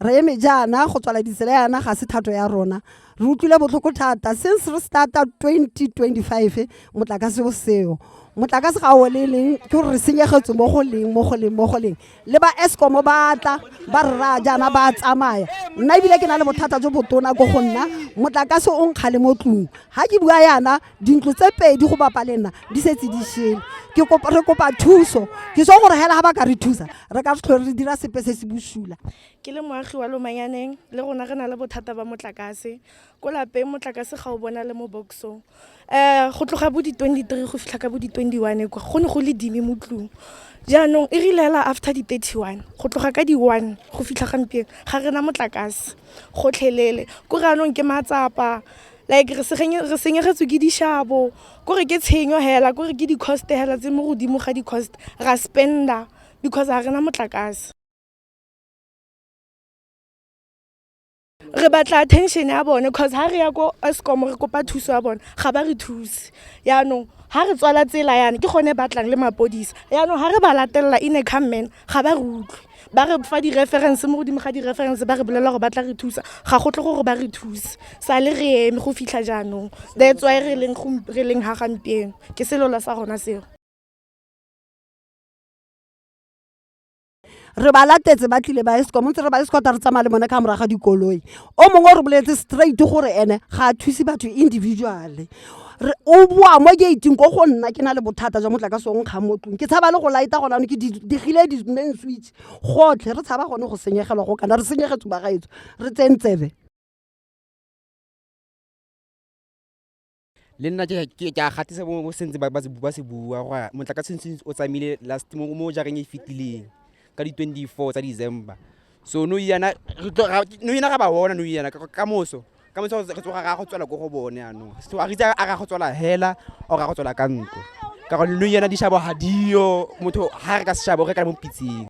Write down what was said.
re eme jaana go tswala ditsela yana ga se thato ya rona re utlwile botlhoko thata since re starta 2025 motlakase o seo motlakase ga o le leng ke gore re senyegetswe mo go leng mo go leng mo go leng le ba escom ba tla ba rra jaana ba tsamaya nna ebile ke na le bothata jo botona ko go nna motlakase o nkgale mo tlong ga ke bua yana dintlo tse pedi go bapa le nna di setse di shele ke re kopa thuso ke so gore hela ga ba ka re thusa re ka tlhole re dira sepe se se bosula ke le moagi wa lomanyaneng le rona re na le bothata ba motlakase ko lapeng motlakase ga o bona le mo boxong um go tloga bo di-twenty three go fitlha ka bo di-twenty one kwa go ne go le dime mo tlung jaanong e rile fela after di-thirty one go tloga ka di-one go fitlha gampieno ga re na motlakase gotlhelele ko re anong ke matsapa like re senyegetswe ke dishabo kore ke tshenyo hela kore ke di-cost hela tse mo godimo ga di-cost ra spender because ga re na motlakase re batla attention ya bone because ha re ya ko escom re kopa thuso ya bone ga ba re thuse yaanong ha re tswala tsela yana ke gone batlang le mapodisa yaanong ha re ba latelela in a come man ga ba re utlwe ba re fa di-reference mo godimo ga di-reference ba re bolelela gore ba tla re thusa ga go tle gore ba re thuse sa le re eme go fitlha jaanong that's why re leng re leng ha gampieno ke selola sa rona seo re ba latetse ba tlile ba escom ntse re ba escota re tsamaya le bone ka moraga dikoloi o mongwe o re boletse straight gore ene ga a thuse batho individually o boa mo gating ko go nna ke na le bothata jwa motlakase o nkgang mo tlong ke tshaba le go laeta gona ano ke digile di-main switch gotlhe re tshaba gone go senyegelwa go kana re senyegetse bagaetso re tsentsebe le nna ke ke- ke a gatisa mo mo sentse ba ba se bu- ba se bua gore motlakase ntse o tsamaile last mo mo jareng e e fetileng ka di 24 tsa december so no yana re tlo ra- no yana ra ba bona no yana ka ka moso ka moso re tsoga ra go tswela ko go bone anong so a re itse a ra go tswela hela o ra go tswela ka ntlo ka gore no yana dishabo ga diyo motho ga re ka seshabo re ka mo pitseng